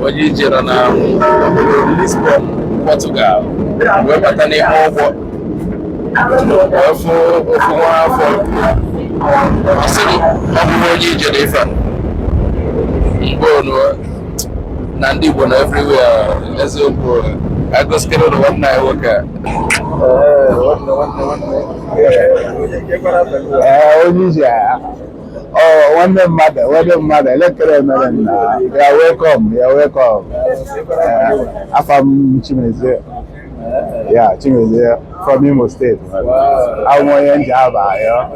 onye ije nọ na Lisbon Portugal wee bata n'ime ụgbọ ofu nwa afọ ọ sịrị ọ bụrụ onye ije na ife mgbe onu na ndị Igbo nọ everywhere eziokwu agụsikere ụlọ nwanne anyị nwoke a onye ije agha Oh, nwanne mmadụ nwanne mmadụ elee ka i mere nna you're welcome you're welcome Eh, afa m Chimezie yeah Chimezie from Imo State abụ m onye Njaba yeah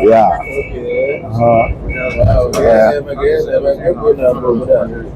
yeah Uh-huh. Yeah.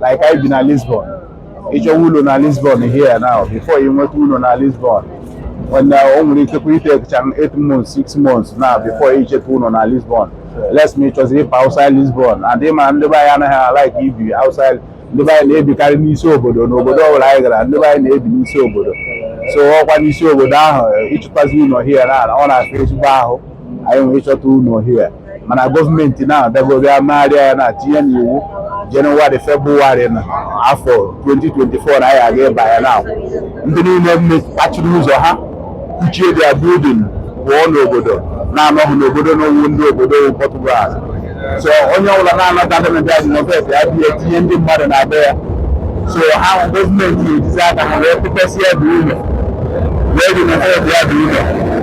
like anyị bi na Lisbon ị chọwa ụlọ na Lisbon here now before ị nweta ụlọ na Lisbon when uh, o nwere ike ịtakecha 8 months 6 months now before ị chọta ụlọ na Lisbon unless ma ị chọzi ịpụ outside Lisbon and ị ma ndị be anyị anaghị alike ibi outside ndị be anyị na-ebikarị n'isi obodo n'obodo ọbụla anyị gara ndị be anyị na-ebi n'isi obodo so ọkwa n'isi obodo ahụ ịchọtazi ụlọ here now ọ na-afịa ezigbo ahụ anyị wee chọta ụlọ here mana gọọmenti na-abịago bịa megharịa ya na-atinye n'iwu jenụwarị febrụwarị na afọ 2024 na anyị aga ịba ya na ndị niile mechiri ụzọ ha kụchie their building pụọ n'obodo na-anọghị n'obodo ndị wụ ndị obodo Portugal so onye ọbụla na-anọta ndị na-abịa adịnọbet ya bịa etinye ndị mmadụ na be ya so ha gọọmenti ejizi aka ha wee kpọpesịa the ụlọ wee dị na ya dị ụlọ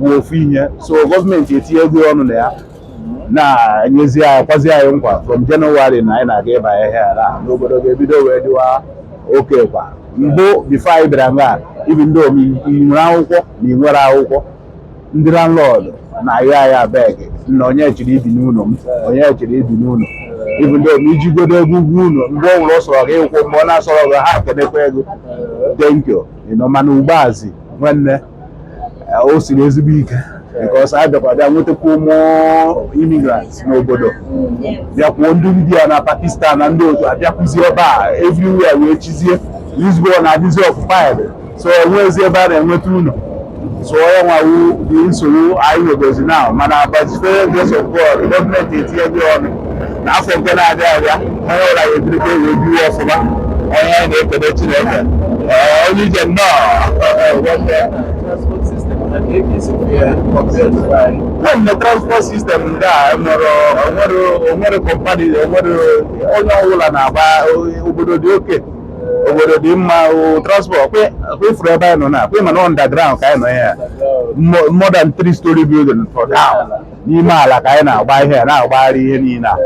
bụ ofu ihe so gọọmenti etinyego ọnụ na ya na-enyezi anyị kwezi anyị nkwa from January na anyị na-aga ịba ya na obodo ga-ebido wee dịwa okay ọkwa mbụ before anyị bịara nga even though ma ị nwere akwụkwọ ma ị nweghị akwụkwọ ndị landlord na-ayọ anyị abeg na onye chọrọ ibi n'ụlọ m onye chọrọ ibi n'ụlọ even though ma i jigodo ego ụgwọ ụlọ mgbe ọ wụla ọ sọrọ gị ị kwụọ mgbe ọ na-asọrọ gị ha kenekwa gị thank you you know mana ugbu a zi nwanne o siri ezigbo ike because a bịakwa bịa nwetakwa ụmụ immigrants n'obodo bịakwuo ndị India na Pakistan na ndị otu abịakwuzi ebe a everywhere wee chizie Lisbon na-adịzi occupied so enweghịzi ebe a na-enweta ụlọ so ọ ya nwa wụ the nsogbu anyị nwegozi now mana by the grace of God gọọmenti etinyego ọnụ n'afọ nke na-abịa abịa onye ọbụla ga-ebirikwa wee biwe ọfụma onye anyị na-ekele Chineke Ee, onye ije nnọọ nwanne transport system ndị a enwere onwere onwere kọmpani onwere onye ọbụla na-agba obodo dị okay obodo dị mma o transport kwe kwefuru ebe anyị nọ now kwe mana underground ka anyị nọ ya more than three story building for down n'ime ala ka anyị na-agba ihe na-agbagharị ihe niile a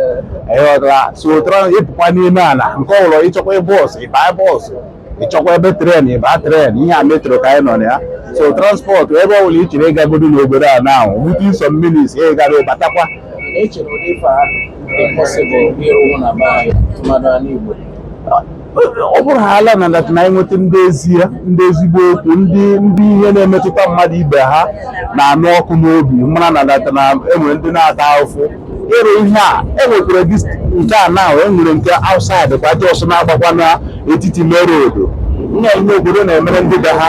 ịghọtara so tụrụ ịpụkwa n'ime ala nke ọbụla ịchọkwa bọọsụ ịba bọọsụ ịchọkwa ebe tren ịba tren ihe a metro ka anyị nọ na ya so transport ebe ọ bụla ị chere ịgagodo n'obodo a na ahụ within some minutes ị gara ịbatakwa ọ bụrụ haala na that na anyị nweta ndị ezi ya ndị ezigbo okwu ndị ndị ihe na-emetụta mmadụ ibe ha na-anụ ọkụ n'obi mara na that na enwere ndị na-ata ahụfụ ịrụ ihe a enwekwara this nke a na ahụ enwere nke outside kwa just na-agbakwa n'etiti main road nna ihe obodo na-emere ndị be ha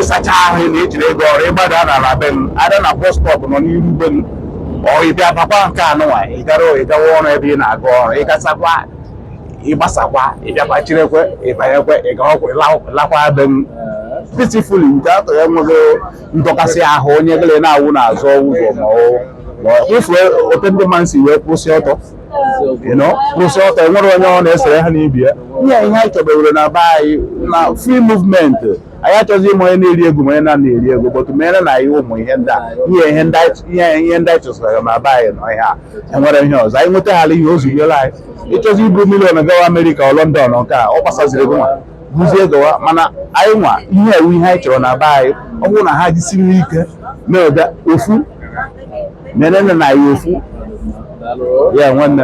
ịsacha ahụ na ejiri ego ọrụ ịgbada n'ala be m ada na bus stop nọ n'iru be m ọ ịbịa bakwa nke anụwa ịgara ịgawa ọrụ ebe ị na-aga ọrụ ịgasakwa ịgbasakwa ịbịakwa cherekwe ịbanyekwe ịgawakwa lakwa be m peacefully nke atọ ya enweghị ndọkasị ahụ onye gịle na-awụ n'azụ ụzọ ma ọ ịfụ ote ndị mmadụ si wee kwụsị ọtọ you know kwụsị ọtọ enwere onye ọ na-esere ha n'ibe ya ihe ihe anyị chọbewere na be anyị na free movement anyị achọghị ịma onye na-eri ego ma onye na-ana eri ego but mere na anyị ụmụ ihe ndị a ihe ihe ndị anyị- ihe ihe ndị anyị chọsara na be anyị nọ ihe a enwere ihe ọzọ anyị nwetaghara ihe ozunyere anyị ịchọzi iburu million gawa Amerịka or London nke a ọ gbasaziri gị nwa buzie gawa mana anyị nwa ihe a wụ ihe anyị chọrọ na be anyị ọ bụrụ na ha jisiri ike na-ede ofu mere na anyị ofu ya nwanne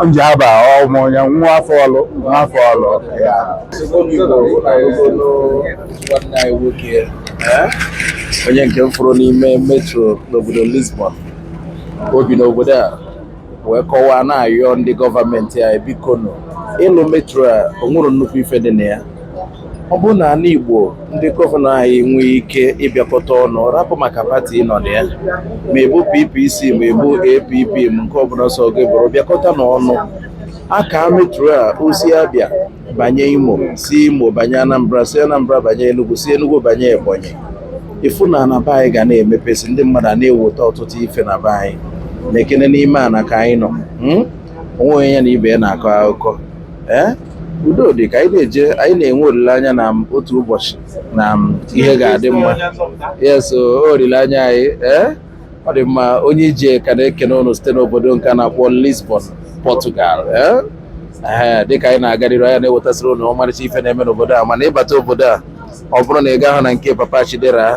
Njaba ọmụ ya nwa afọ Ọlụ nwa afọ Ọlụ ya onye nke m fụrụ n'ime metro n'obodo Lisbon o bi n'obodo a wee kọwaa na-ayọ ndị gọọmenti anyị biko nụ ịlụ metro a o nwere nnukwu ife dị na ya ọ bụrụ na ana Igbo ndị gọvanọ anyị nwee ike ịbịakọta ọnụ rapụ maka pati nọ na ya ma ị bụ PPC ma ị bụ APP ma nke ọbụna ọ sọ gị bụrụ bịakọta n'ọnụ ka metro a o si Abia banye Imo si Imo banye Anambra si Anambra banye Enugu si Enugu banye Ebonyi ịfụ na na be anyị ga na-emepesi ndị mmadụ a na-eweta ọtụtụ ife na be anyị nekene n'ime ana ka anyị nọ hmm? onwe onye ya na ibe ya na-akọ akụkọ ee eh? udo dị ka anyị na-eje anyị na-enwe olileanya na otu ụbọchị na ihe ga-adị mma yes olileanya anyị ee eh? ọ dị mma Onye Ije ka na-ekene ụnụ site n'obodo nke a na-akpọ Lisbon Portugal eh? ee dịka anyị na-agarịrị anyị na-ewetasịrị ụnụ ọmarịcha ife na-eme n'obodo a mana ịbata obodo a ọ bụrụ na ị gaghị na nke Papa Chidera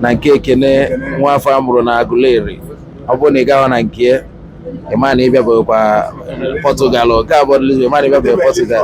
na nke Ekene nwa afọ a mụrụ na Aguleri ọ bụrụ na ị gaghị na nke ịma na ịbịabekwa Portugal nke a bụ Lisbon ịma na ịbịabekwa Portugal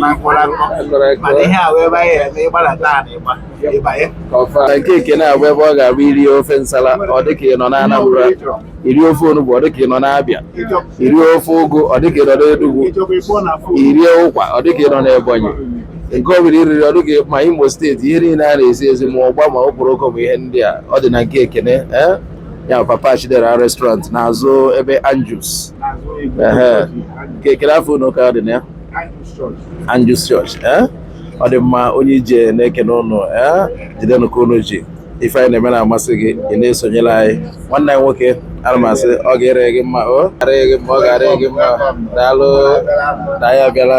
na mkpụrụ akọ mana ihe a wee banye ya na ịgbalata a na ịgba ịbanye na nke ekene a bụ ebe ọ ga-abụ iri ofe nsala ọ dịka ị nọ na Anambra iri ofe onugbu ọ dịka ị nọ n'Abịa iri ofe ụgụ ọ dịka ị nọ n'Enugwu irie ụkwa ọ dịka ị nọ n'Ebonyi nke ọ bụla iriri ọ dịka ma Imo steeti ihe niile a na-esi esi ma ụgba ma okporoko ma ihe ndị a ọ dị na nke ekene eh? ya papa chidera restaurant n'azụ ebe Andrew's kekere afọ unu ka dị na ya Andrew's church eh? ọ dị mma onye ije na-ekene ụnụ eh? jidenụ ka ụnụ ji ife anyị na-eme na-amasị gị ị na-esonyere anyị nwanne anyị nwoke ana m asị ọ ga-ere gị mma ọ ga-ere gị mma ọ ga-ere gị mma daalụ na ya abịala